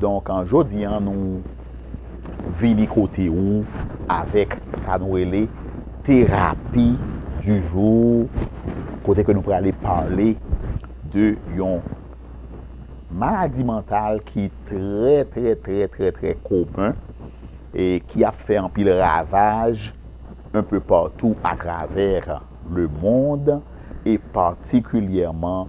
Donk jodi an nou vini kote ou avèk sa nou rele terapi di jou kote ke nou prale pale de yon maladi mantal ki trè trè trè trè trè komen e ki ap fè anpil ravaj enpe patou atravè lemond e patikilyèman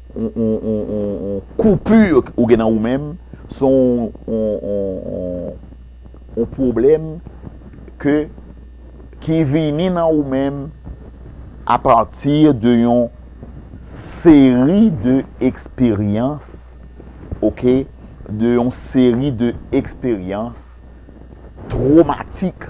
yon coupure ou gen nan ou menm, se yon pwoblèm ke ki vini nan ou menm a pati de yon seri de eksperyans ok, de yon seri de eksperyans twomatik.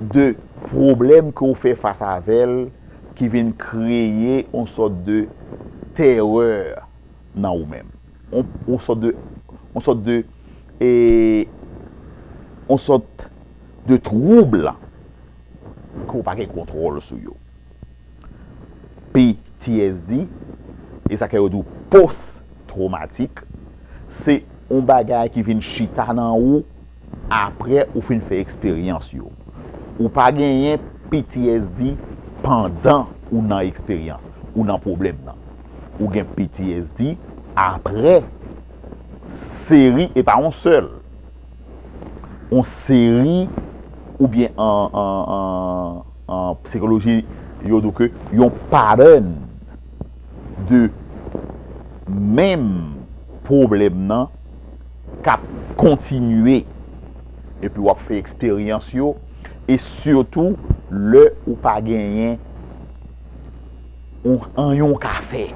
de pwoblèm ke w fè fas avè l ki vin kreye yon sòt de tèrè nan ou menm. Yon sòt de, yon sòt de, yon sòt de twoub ke w pa gen kontwòl sou yo. PTSD, e sa ke yo di w post twomatik, se yon bagay ki vin chita nan ou. Apre ou fin fè eksperyans yo. Ou pa genyen ptsd pandan ou nan eksperyans, ou nan pwoblèm nan. Ou gen ptsd apre seri, e pa yon sèl, yon seri oubyen an psikoloji yo di w ke yon pattern de menm pwoblèm nan. k ap kontinye epi w ap fè eksperyans yo e sitou lè ou pa genyen anyen w ka fè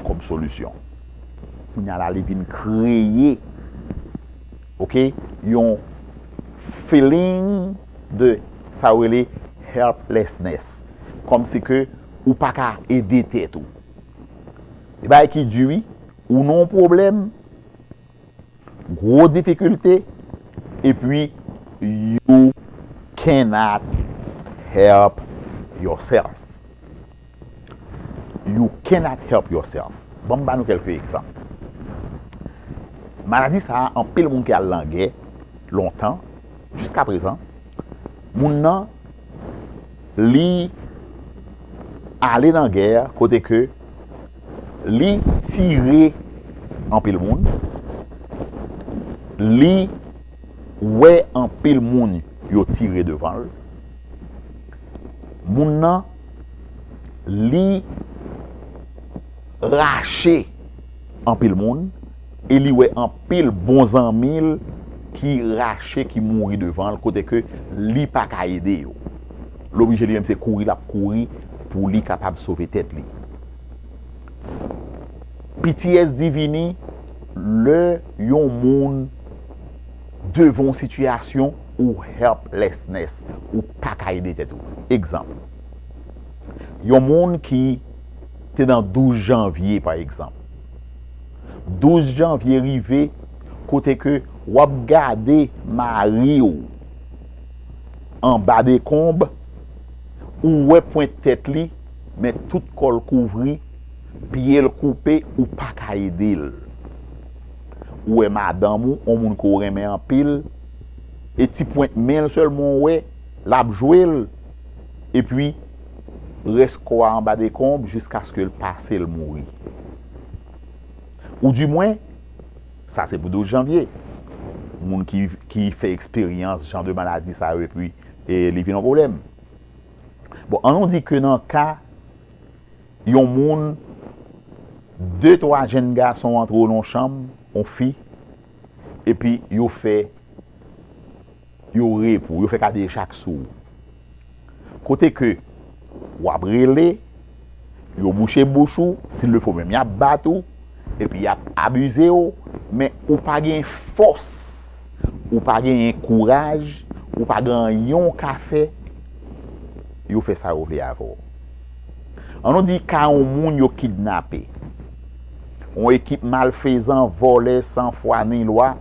kòm solisyon. Kounya la li vin kreye ok yon feeling de sa yo rele helplessness kòmsi ke ou pa ka ede tèt ou. Se bagay ki di wi. Ou nan yon pwoblèm, gwo difikilte, epi you cannot help yourself. You cannot help yourself. Ban m ba nou kèlke egzanp. Maladi sa a, anpil moun ki al lan gè lontan, jiska prezan, moun nan li ale lan gè kote ke Li tire anpil moun. Li wè anpil moun yo tire devan l. Moun nan li rache anpil moun e li wè anpil bon zanmi l ki rache ki mouri devan l kote ke li pa ka ede yo. L oblije li menm se kouri l ap kouri pou li kapab sove tèt li. PTSD vini lè yon moun devan yon sitiyasyon ou helplessness, ou pa ka ede tèt ou. Egzanp, yon moun ki te nan 12 janvye pa egzanp. 12 janvye rive kote ke w ap gade mari ou anba dekonb, ou wè pwent tèt li. Men tout kòl kouvri, pyel koupe ou paka edel. Ou wè madanm ou, on moun ke w renmen anpil, e ti pwent menl sèlman w wè, lap jwel, epi rès kò a anba dekonb jiskaske l pase l mouri. Ou di mwen, sa se pou 12 janvye, moun ki fè eksperyans jan de maladi sa yo epi li vin on pwoblèm. Bon, an nou di ke nan ka yon moun, de twa jenn gason antre yo nan yon chanm, yon fi, epi yo fè, yo re pou ou, yo fè kadejak sou ou. Kote ke w ap rele. Yo bouche bouch ou, s'il le faut menm yap bat ou, epi yap abize ou, men ou pa gen fòs, ou pa genyen kouraj, ou pa gen anyen w ka fè, yo fè sa yo vle avè w. An nou di ka yon moun yo kidnape, yon ekip malfezan, vòlè, san fwa ni lwa,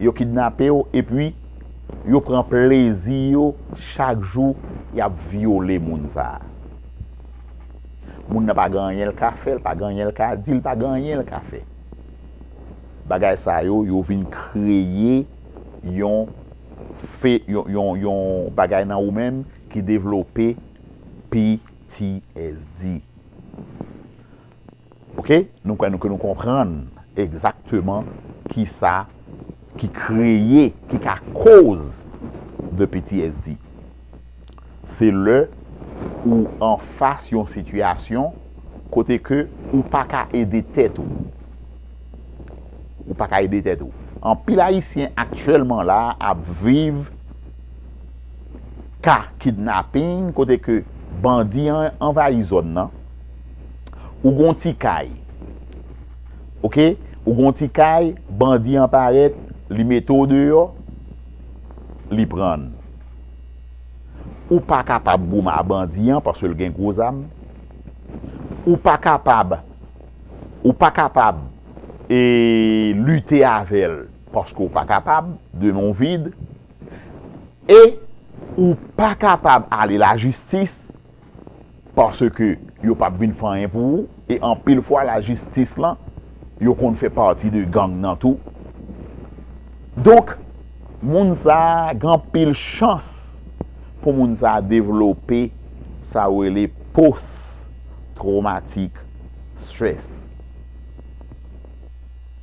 yo kidnape w, epi yo pran plezi yo chak jou yap vyole moun sa a. Moun nan pa gen anyen l ka fè, l pa gen anyen l ka di, l pa gen anyen l ka fè. Bagay sa yo, yo vin kreye yon fe, yon bagay nan ou menm ki devlope PTSD. Ok, nou kwè nou ke nou konprann egzakteman kisa ki kreye, ki ka koz de PTSD. Se lè ou anfas yon sitiyasyon kote ke ou pa ka ede tèt ou. Ou pa ka ede tèt ou. Anpil Ayisyen aktyèlman la ap viv ka kidnaping kote ke bandi an anvayi zòn nan. Ou gon ti kay ok ou gon ti kay bandi an parèt li mete w deyò li prann ou pa kapab goumen a bandi an paske l gen gwo zam ou pa kapab ou pa kapab e lite avè l paske w pa kapab de men w vid e ou pa kapab ale lajistis Paske yo pap vin fè anyen pou ou e anpil fwa la jistis lan yo konn fè pati de gang nan tou. Donk moun sa gen anpil chans pou moun sa devlope sa yo rele post traumatic stress.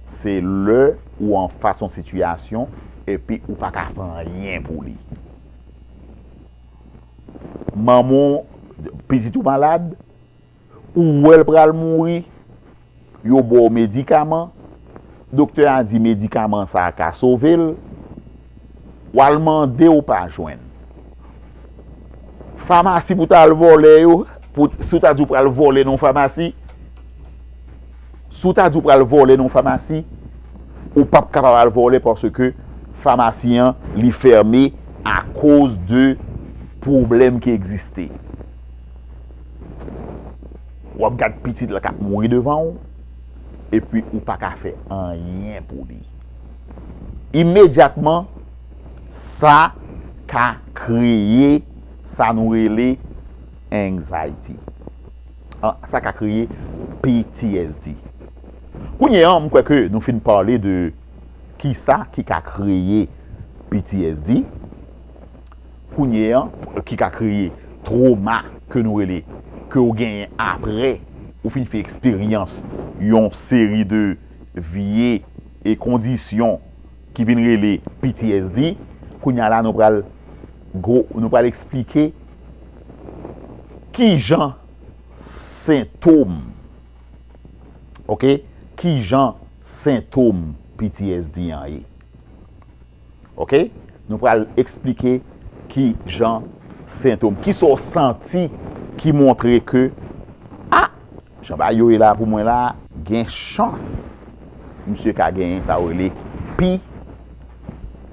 Se lè ou anfas yon sitiyasyon epi ou paka fè anyen pou li. Manman w pitit ou malad, ou wè l pral mouri, yo ba w medikaman, doktè a di medikaman sa a ka sove l, w al mande ou pa jwenn. Famasi pou w ta al vòlè yo, si w ta di w pral vòlè nan yon famasi. Si w ta di w pral vole nan yon famasi, ou pap kapab al vole paske famasi an li fème akoz de pwoblèm ki egziste. W ap gad pitit la k ap mouri devan w epi ou pa ka fè anyen pou li. Imedyatman sa ka kreye sa nou rele anxiety. Sa ka kreye PTSD. Kounye an, m kwè ke nou fin pale de kisa ki ka kreye PTSD, kounye an, ki ka kreye troma ke nou rele, ke ou genyen apre ou fin fè eksperyans yon seri de vye kondisyon ki vin rele PTSD. Kounye a la nou pral, nou pral eksplike. Kijan sentom ok kijan sentom ptsd an ye ok nou pral esplike kijan sentom kisa w santi ki montre ke ah Jan bagay yo ye la pou mwen la gen chans misye ka genyen sa yo rele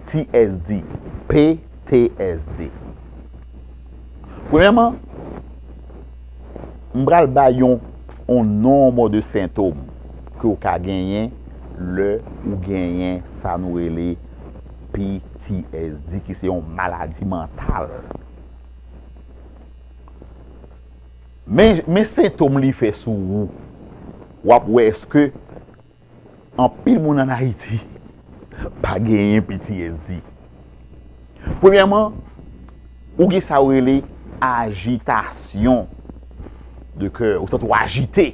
PTSD, PTSD. Premyèman, m pral bay yon nonbo de sentom ke ou ka genyen lè ou genyen sa nou rele PTSD ki se yon maladi mantal. Men sentom li fè sou ou. W ap wè eske anpil moun an Ayiti pa genyen ptsd. Premyèman, ou gen sa yo rele ajitasyon de kè. Ou santi w ajite.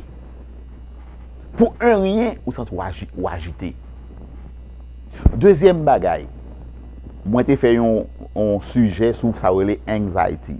Pou en ryen, ou santi w ajite. Dezyèm bagay, mwen te fè yon sijè sou sa yo rele anxiety.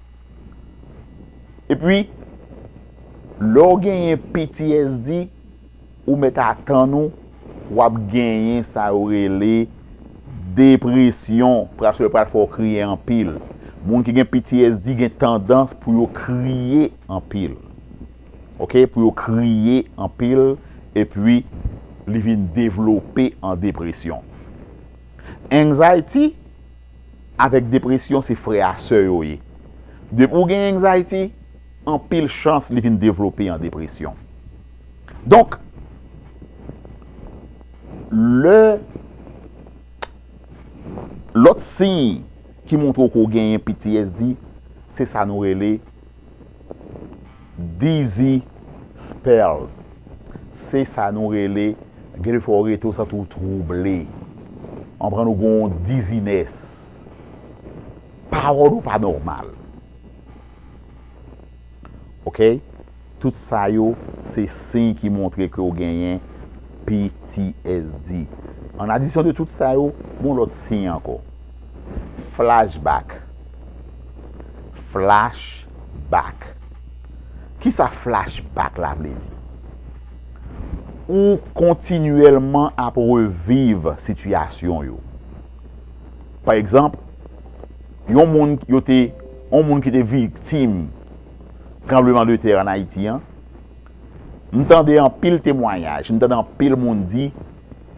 Epi, lè w genyen PTSD, ou mèt atann ou, w ap genyen sa yo rele depresyon. Pras yo pral fè w kriye anpil. Moun ki gen PTSD gen tandans pou yo kriye anpil. Ok, pou yo kriye anpil, epi li vin devlope an depresyon. Anxiety. avèk depresyon se frè a sè yo ye. Depi ou gen anxiety, anpil chans li vin devlope an depresyon. Donk, lè lòt siy ki montre w ke w genyen PTSD, se sa nou rele. Dizzy spells se sa nou rele gen de fwa ou rete ou santi ou trouble ou konprann ou gen yon dizziness pawòl ou pa nòmal ok tout sa yo se siy ki montre ke ou genyen ptsd an adisyon de tout sa yo gen yon lòt siy ankò. Flashback Flash back Kisa flash back la vle di? Ou kontinyèlman ap reviv sitiyasyon yo. Pa egzanp, yon moun yo te, yon moun ki te viktim tranbleman de tè an Ayiti an, m tande anpil temwanyaj, m tande anpil moun di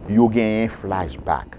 yo genyen flashback.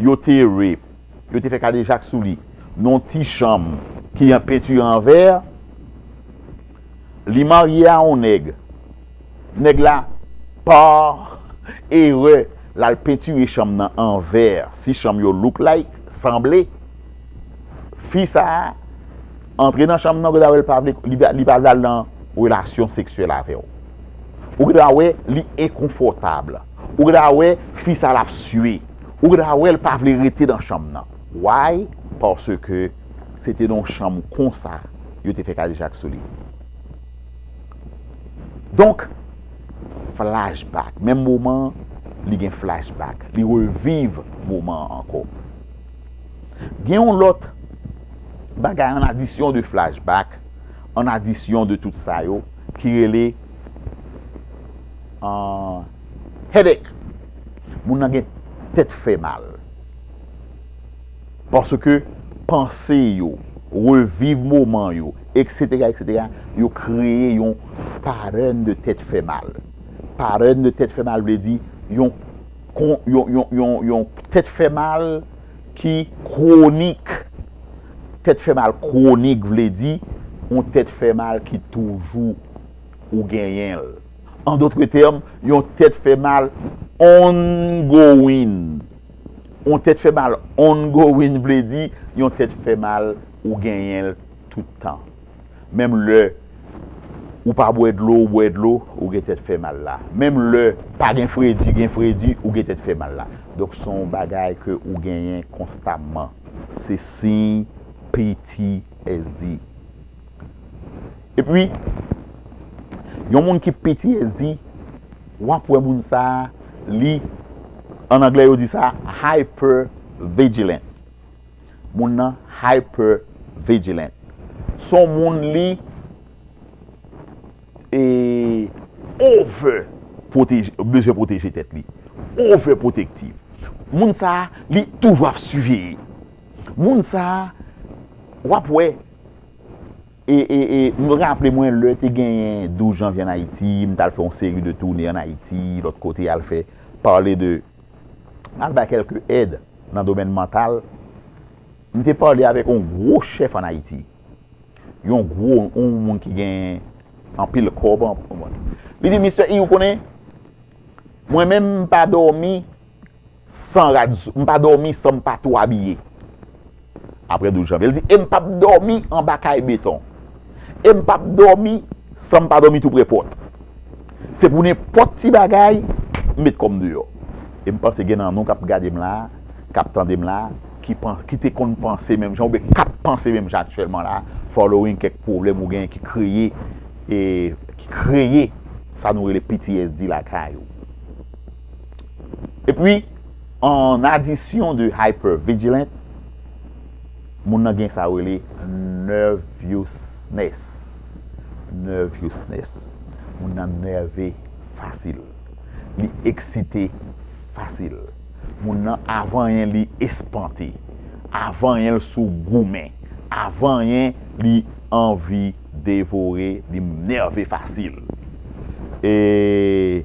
Yo te rape. Yo te fè kadejak sou li nan yon ti chanm. Ki an pentire an vè. Li marye a yon nèg. Nèg la pa erè l al pentire chanm nan an vè. Si chanm yo look like, sanble. Fi sa a antre nan chanm nan ou gen dwa wè li pa vle li pa vle al nan relasyon seksyèl avè w. Ou gen dwa wè li enkonfòtab. Ou gen dwa wè fi sa lap sue. Ou gen dwa wèl pa vle rete nan chanm nan. Why? Paske se te nan yon chanm konsa yo te fè kadejak sou li. Donk flashback. Menm moman an li gen flashback. Li reviv moman an ankò. Gen yon lòt bagay an adisyon de flashback, an adisyon de tout sa yo ki rele. Ahh headache Moun nan gen tèt fè mal paske panse yo reviv moman yo etc etc yo kreye yon pattern de tèt fè mal pattern de tèt fè mal vle di yon yon tèt fè mal ki kwonik tèt fè mal kwonik vle di yon tèt fè mal ki toujou ou genyenl. An dotre tèm, yon tèt fè mal ongowin. Yon tèt fè mal ongowin vle di yon tèt fè mal ou genyen l tout tan. Menm lè ou pa bwè dlo ou bwè dlo, ou gen tèt fè mal la. Menm lè pa gen fredi gen fredi, ou gen tèt fè mal la. Donk se yon bagay ke ou genyen konstamman. Se siy PTSD. E pi, yon moun ki ptsd, w ap wè moun sa a, li, an anglè yo di sa, hypervigilant. Moun nan hypervigilant. S on moun li over pwoteje, bezwen pwoteje tèt li. Over protective. Moun sa a, li toujou ap siveye. Moun sa a, w ap wè. E e e m raple mwen lè te genyen 12 janvye an Ayiti, m t al fè yon seri de toune an Ayiti, lòt kote al fè pale de m al bay kèlke èd nan domèn mantal. M te pale avèk yon gwo chèf an Ayiti. Yon gwo, yon moun ki genyen anpil kòb. Li di m, Mistè I, ou konnen, mwen menm m pa dòmi. San rad sou, m pa dòmi san m pa tou abiye. Aprè 12 janvye, l di, e m pap dòmi anba kay beton. E m pap dòmi san m pa dòmi tou prè pòt. Se pou nenpòt ti bagay, m met kò m deyò. E m panse gen nan nou k ap gade m la a, k ap tande m la a, ki panse, ki te konn panse menm jan oubyen k ap panse menm jan aktyèlman la a, following kèk pwoblèm ou genyen ki kreye, ki kreye sa nou rele ptsd lakay ou. Epi, an adisyon de hypervigilant, moun nan gen sa yo rele nervousness. Nervousness. Moun nan nève fasil. Li eksite fasil. Moun nan avan anyen li espante. Avan anyen li sou goumen. Avan anyen li anvi devore. Li nève fasil. E...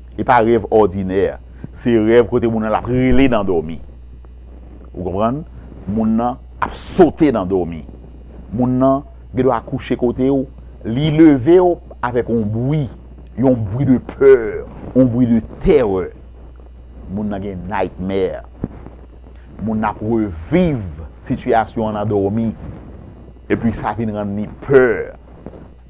E pa rèv òdinè. Se rèv kote moun nan ap rele nan dòmi. Ou konprann? Moun nan ap sote nan dòmi. Moun nan gen dwa kouche kote ou, li leve ou avèk yon bwi, yon bwi de pè, yon bwi de tèrè. Moun nan gen nightmare. Moun nan ap reviv sitiyasyon an nan dòmi. Epi sa vin rann li pè.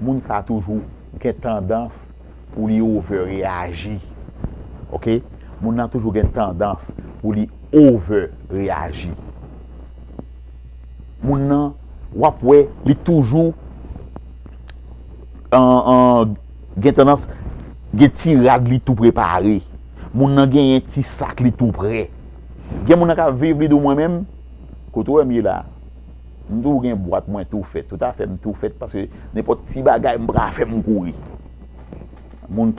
Moun sa toujou gen tandans pou li over reyaji ok moun nan toujou gen tandans pou li over reyaji moun nan wap wè li toujou gen tandans gen ti rad li tou prepare moun nan gen yon ti sak li tou prè gen moun nan kap viv li di mwen menm kote ou wèm ye la. M tou gen bwat mwen tou fèt. Tout afè m tou fèt paske nenpòt ti bagay m pral fè m kouri. Moun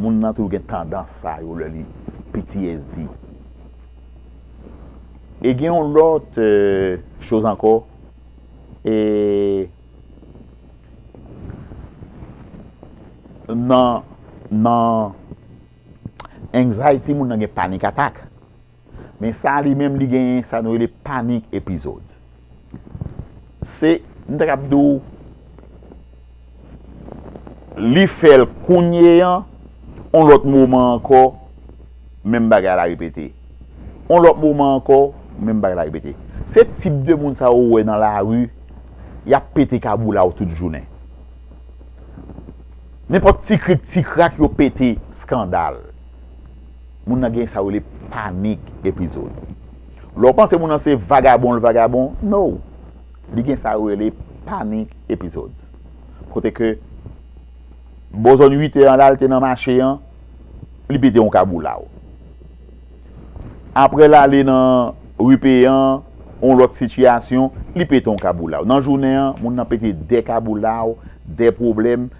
moun nan toujou gen tandans sa yo lè li ptsd. E gen yon lòt choz ankò e nan nan anxiety moun nan gen panic attack Men sa li menm li genyen sa nou rele panic episodes. Se m ta kab di w li fè l kounye an, on lòt moman ankò menm bagay la repete. On lòt moman ankò menm bagay la repete. Se tip de moun sa ou wè nan lari y ap pete kaboula w tout jounen. Nenpòt ti krik ti krak yo pete skandal. Moun nan gen sa yo rele panic episode. Lè w panse moun nan se vagabon l vagabon, no! Li gen sa yo rele panic episodes. Kote ke bò zòn 8 è an la, l te nan mache an, li pete yon kaboulaw. Aprè l ale nan ri Peyan, yon lòt sitiyasyon, li pete yon kaboulaw. Nan jounen an, moun nan pete 2 kaboulaw, 2 pwoblèm.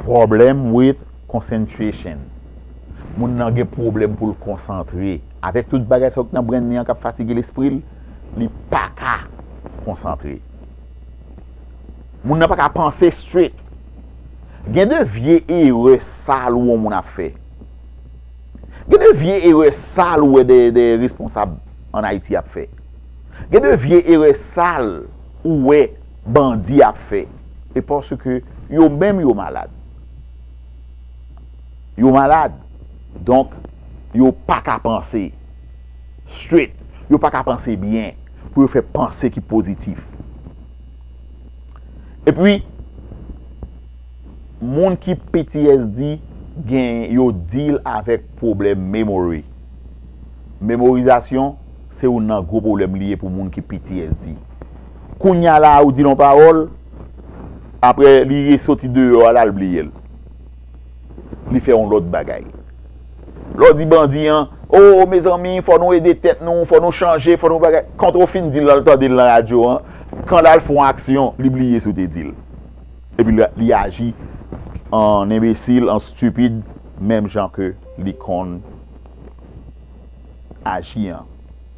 Problem with concentration Moun nan gen pwoblèm pou l konsantre. Avèk tout bagay sa yo ki nan brenn li an k ap fatige lespri l, li pa ka konsantre. Moun nan pa ka panse straight. Gen de vye erè sal ou wè yon moun ap fè. Gen de vye erè sal ou wè de responsab an Ayiti ap fè. Gen de vye erè sal ou wè. bandi ap fè e paske yo menm yo malad yo malad donk yo paka panse straight yo paka panse byen pou yo fè panse ki pozitif epi moun ki ptsd gen yo deal avèk pwoblèm memory memorizasyon se youn nan gwo pwoblèm li ye pou moun ki ptsd. Kounya la a ou dil on pawòl aprè li re soti deyò a la l bliyel li fè on lòt bagay lè w di bandi an oo mezanmi fò nou ede tèt nou fò nou chanje fò nou bagay kont ou fin dil lal tandel nan radyo an kan lal fon aksyon li bliye si w te dil epi li aji an enbesil an stupid menm jan ke li konn aji an.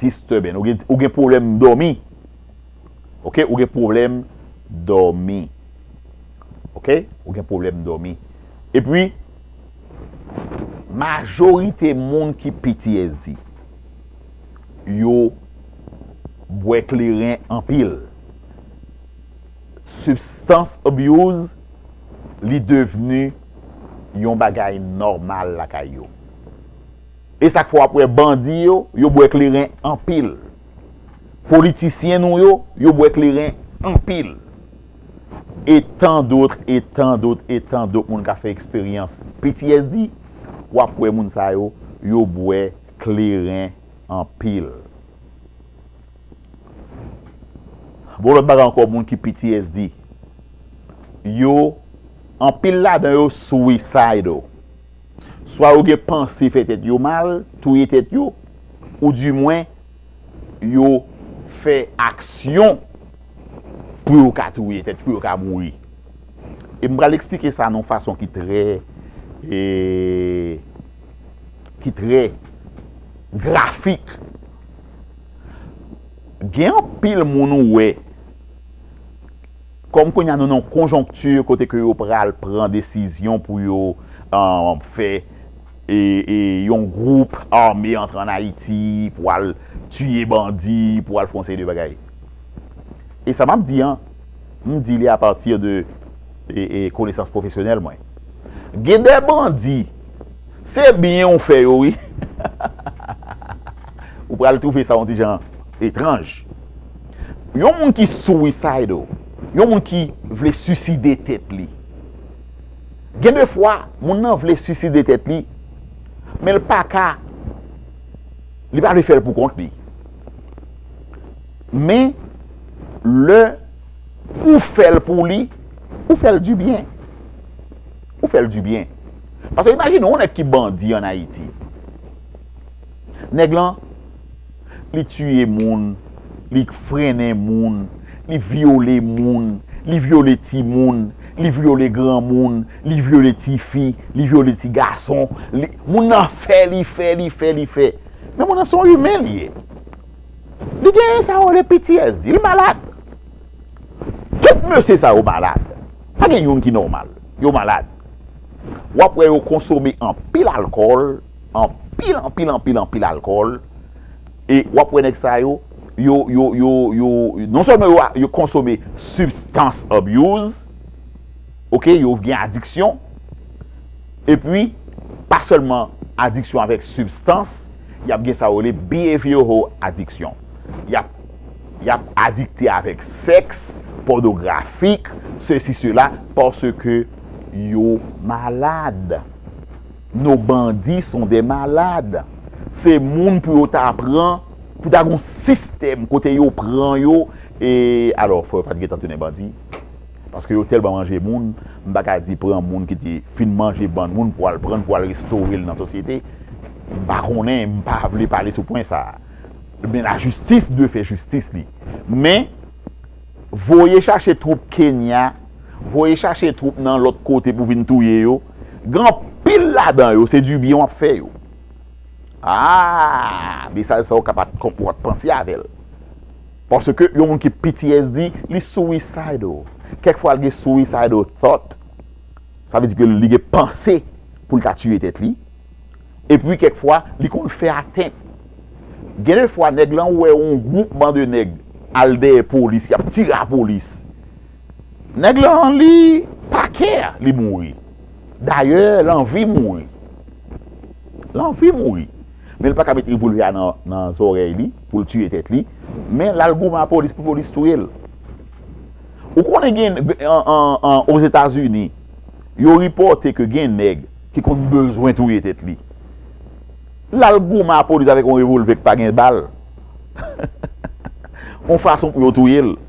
disturbing ou gen pwoblèm dòmi ok ou gen pwoblèm dòmi ok ou gen pwoblèm dòmi epi majorite moun ki ptsd yo bwè kleren anpil substance abuse li devenu yon bagay nòmal lakay yo. E sak fè wap wè bandi yo, yo bwè kleren anpil. Politisyen nou yo, yo bwè kleren anpil. E tan dotr, e tan dotr, e tan dotr moun ka fè eksperyans ptsd, wap wè moun sa yo, yo bwè kleren anpil. Bon lòt bagay ankò moun ki ptsd, yo, anpil ladan yo suicidal. Swa yo gen panse fè tèt yo mal, touye tèt yo, ou di mwen yo fè aksyon pou yo ka touye tèt, pou yo ka mouri. E m pral eksplike sa nan yon fason ki trè e ki trè grafik. Gen anpil moun ou wè. Kòm kounye a nou nan yon konjonkti kote ke yo pral pran desizyon pou yo fè yon gwoup ame antre an Ayiti pou al tiye bandi, pou al fè yon seri de bagay. E sa m ap di an, m di li apati de konesans pwofesyonèl mwen. Gen de bandi, se byen ou fè yo wi. Ou pral twouve sa yon ti jan etranj. Yon moun ki suicidal, yon moun ki vle suicide tèt li. Gen de fwa, moun nan vle suicide tèt li, men l pa ka, li pa vle fè l pou kont li. Men, lè ou fè l pou li, ou fè l di byen. Ou fè l di byen. Pase imajine yon nèg ki bandi an Ayiti. Nèg lan. Li tiye moun, li frennen moun, li vyole moun, li vyole timoun, li vyole granmoun, li vyole tifi, li vyole ti gason, li, moun nan fè, li fè, li fè, li fè. Men moun nan se yon imen li ye. Li gen sa yo rele PTSD, li malad. Tout mesye sa yo malad. Pa gen youn ki nòmal. Yo malad. W'ap wè yo konsome anpil alkòl. Anpil anpil anpil anpil alkòl e w ap wè nèg sa yo, yo yo yo yo non sèlman yo konsome sibstans abyouz ok yo gen adiksyon epi pa sèlman adiksyon avèk sibstans y ap gen sa yo rele behavioral addiction y ap y ap adikte avèk sèks pònografik sesi sela paske yo malad. No bandi son de malad. Se moun pou yo ta pran, pou ta gon sistèm kote yo pran yo e alò fò yo pat gentan tounen bandi paske yo tèlman manje moun m pa ka di pran moun ki te fin manje bann moun pou al prann pou al restore l nan sosyete m pa konnen m pa vle pale sou pwen sa men la jistis dwe fè jistis li men voye chache twoup kenya voye chache twoup nan lòt kote pou vin touye yo. Gen anpil ladan yo se du byen wap fè yo. Aah mesaj sa ou ka pat ou pat panse avèl. Paske yon moun ki ptsd li suicidal. Kèk fwa li gen suicidal thought. Sa vle di ke li gen panse poul ta tiye tèt li. Epi kèk fwa li konn fè atent. Gen de fwa nèg lan wè yon gwoupman de nèg al dèyè polis yap tire a polis. Nèg lan li pa kè li mouri. Dayè l anvi mouri. L anvi mouri. Men l pa ka met revolvè a nan zòrèy li pou l tiye tèt li. Men l al goumen a polis pou polis touye l. Ou konnen gen ozetazini yo ripòte ke gen nèg ki konn bezwen touye tèt li. L al goumen a polis avèk yon revolvè ki pa gen bal. Yon fason pou yo touye l.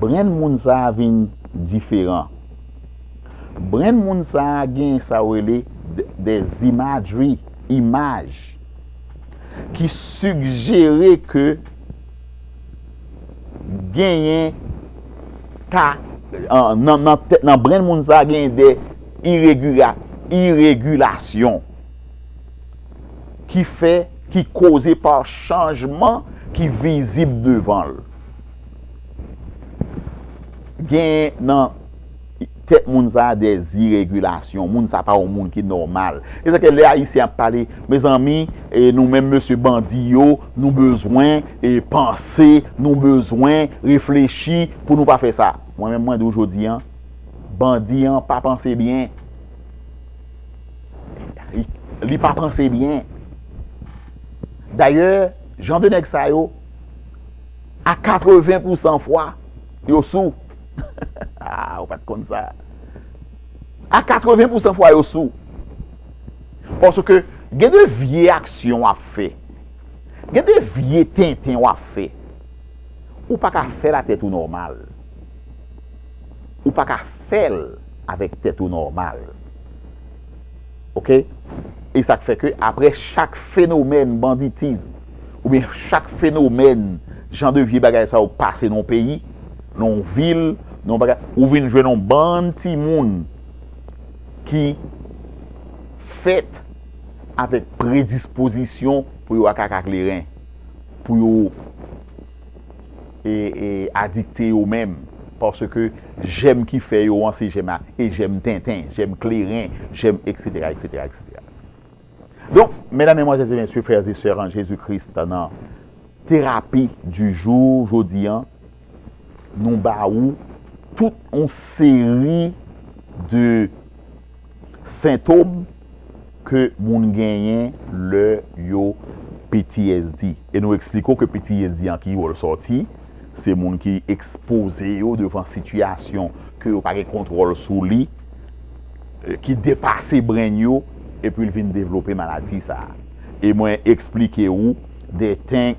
Brenn moun sa vin diferan. Brenn moun sa gen sa yo rele des imagery, imaj, ki sigjere ke genyen ta, nan brenn moun sa genyen de iregilasyon ki fè, ki koze pa chanjman ki vizib devan l. Genyen nan tèt moun sa a de ziregilasyon. Moun sa a pa yon moun ki nòmal. E sa ke lè Ayisyen ap pale, mezanmi, nou menm mesye bandi yo, nou bezwen panse, nou bezwen reflechi pou nou pa fè sa. Mwen menm mwen di ou jodi an, bandi an pa panse byen. Li pa panse byen. Dayè, jan de nèg sa yo. a 80 pou 100 fwa yo sou aa ou pat konn sa a 80 pou 100 fwa yo sou paske gen de vye aksyon wap fè gen de vye tenten wap fè ou pa ka fèl a tèt ou nòmal ou pa ka fèl avèk tèt ou nòmal ok e sak fè ke apre chak fenomèn banditism ou byen chak fenomèn jan de vye bagay sa yo pase nan yon peyi nan yon vil nan yon bagay ou vin jwenn yon bann ti moun ki fèt avèk predispozisyon pou yo ak ak ak leren pou yo adikte yo menm paske jèm ki fè yo an se jèm a e jèm tenten, jèm kleren, jèm eksetera eksetera eksetera. Donk, medam, menmwazèz e mesye, frè e sè an Jezi Kris nan terapi di jou jodi an nou ba ou tout yon seri de sentom. ke moun genyen lè yo ptsd e nou eksplike w ke ptsd an ki bò l sòti, se moun ki ekspoze yo devan sitiyasyon ke yo pa gen kontwòl sou li, ki depase brenn yo epi l vin devlope maladi sa a. E mwen eksplike ou de ten,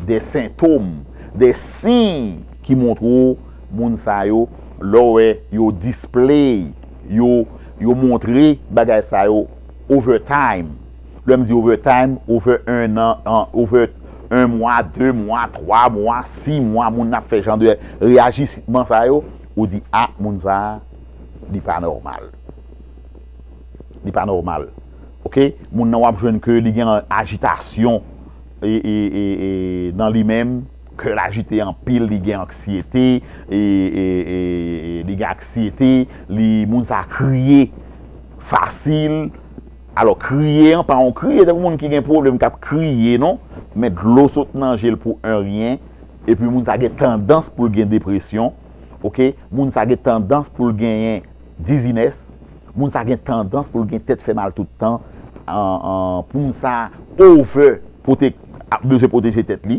de sentom, de siy ki montre w moun sa yo lè w wè yo display. yo montre bagay sa yo over time lè m di over time over 1 an over 1 mwa 2 mwa 3 mwa 6 mwa moun nan ap fè jan de reyajisman sa yo ou di a moun sa li pa nòmal li pa nòmal ok moun nan w ap jwenn ke li gen ajitasyon nan li menm. Kè l ajite anpil, li gen anksyete, li gen anksyete, li, moun sa kriye fasil, alò kriye an pa yon kriye tankou moun ki gen pwoblèm k ap kriye non, men dlo sot nan je l pou en ryen, epi moun sa gen tandans pou l gen depresyon, ok, moun sa gen tandans pou l genyen dizinès, moun sa gen tandans pou l gen tèt fè mal tout tan, pou moun sa over pwote, bezwen pwoteje tèt li.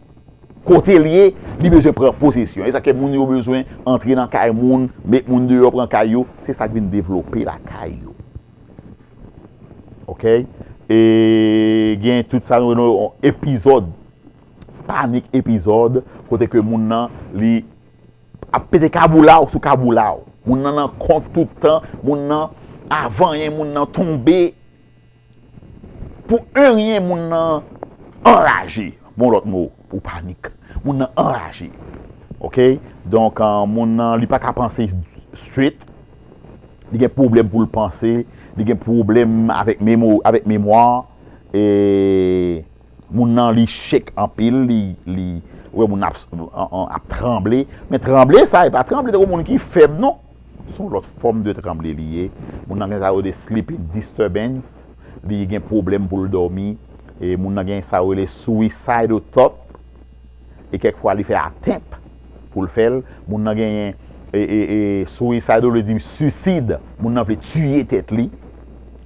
Kotel ye li bezwen pran posesyon esa ke moun yo bezwen antre nan kay moun met moun deyò pran kay yo se sak vin devlope lakay yo ok e gen tout sa nou rele yon epizòd panik epizòd kote ke moun nan li ap pete kaboulaw sou kaboulaw moun nan nan kont tout tan moun nan avanyen moun nan tonbe. Pou en rien moun nan anraje bon lòt mo pou panik moun nan anraje ok donk moun nan li paka panse straight li gen pwoblèm pou l panse li gen pwoblèm avèk memo avèk memwa e moun nan li shake anpil li li ou wè moun nan ap tranble men tranble sa e pa tranble tankou moun ki fèb non. Se yon lòt fòm de tranble li ye. Moun nan gen sa yo rele sleeping disturbance, li gen pwoblèm pou l dòmi. Moun nan gen sa yo rele suicidal thought e kèk fwa li fè attempt pou l fè l. Moun nan genyen suicidal vle di suisid, moun nan vle tiye tèt li.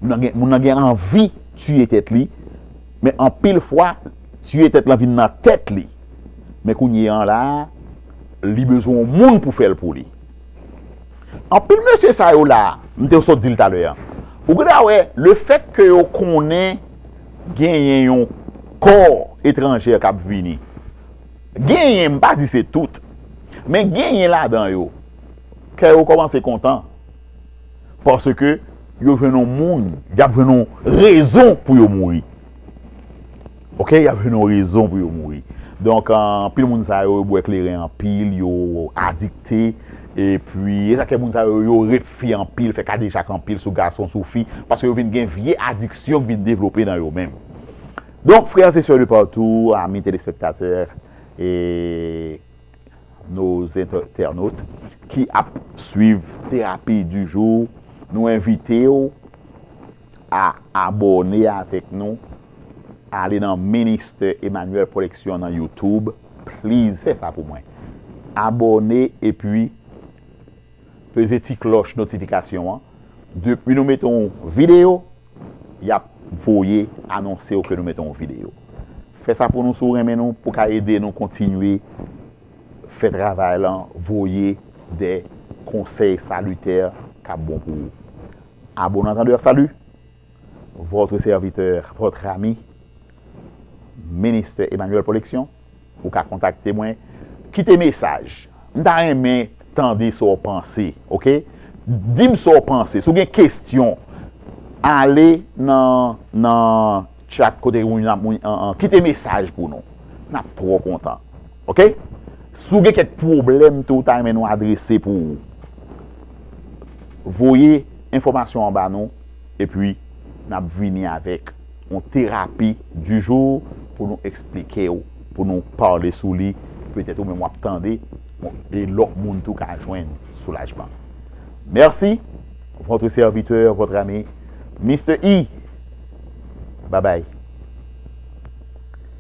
Moun nan gen anvi tiye tèt li, men anpil fwa tiye tèt lan vin nan tèt li. Men kounye an la, li bezwen yon moun pou fè l pou li. Anpil mesye sa yo la, m te sot di l talè an, ou gen dwa wè le fèt ke yo konnen genyen yon kò etranjè k ap vini, genyen, m pa di se tout, men genyen ladan yo, kè yo kòmanse kontan paske yo jwenn yon moun, y ap jwenn yon rezon pou yo mouri. Ok yap jwenn yon rezon pou yo mouri donk anpil moun sa yo yo bwè kleren anpil yo adikte epi esak fè moun sa yo yo rep fi anpil fè kadejak anpil sou gason sou fi paske yo vin gen vye adiksyon ki vin devlope nan yo menm donk frères et sœurs de partout amis téléspectateurs et nos internautes ki ap swiv terapi du jour nou envitew A abòne avèk nou ale nan Minister Emmanuel Production nan YouTube please fè sa pou mwen abòne epi peze ti klòch notifikasyon an depi nou mete yon video yap voye anonsew ke nou mete yon video fè sa pou nou si w renmen nou pou ka ede nou kontinye fè travay lan voye de konsèy salitè kap bon pou ou A bon antandè salut! Votre serviteur, votre ami, Minister Emmanuel Polexion, ou ka kontakte mwen, kite mesaj, m ta renmen tande sa w panse ok, di m sa w panse, si w gen kestyon ale nan nan chat kote moun ap moun kite mesaj pou nou, n ap twò kontan. Ok si w gen kèk pwoblèm ke w ta renmen nou adrese pou ou voye enfòmasyon an ba nou epi n ap vini avèk yon terapi du jour pou nou eksplike w pou nou pale sou li petèt ou menm w ap tande e lòt moun tou ka jwenn soulajman Mèsi votre serviteur votre ami Mister E Babay.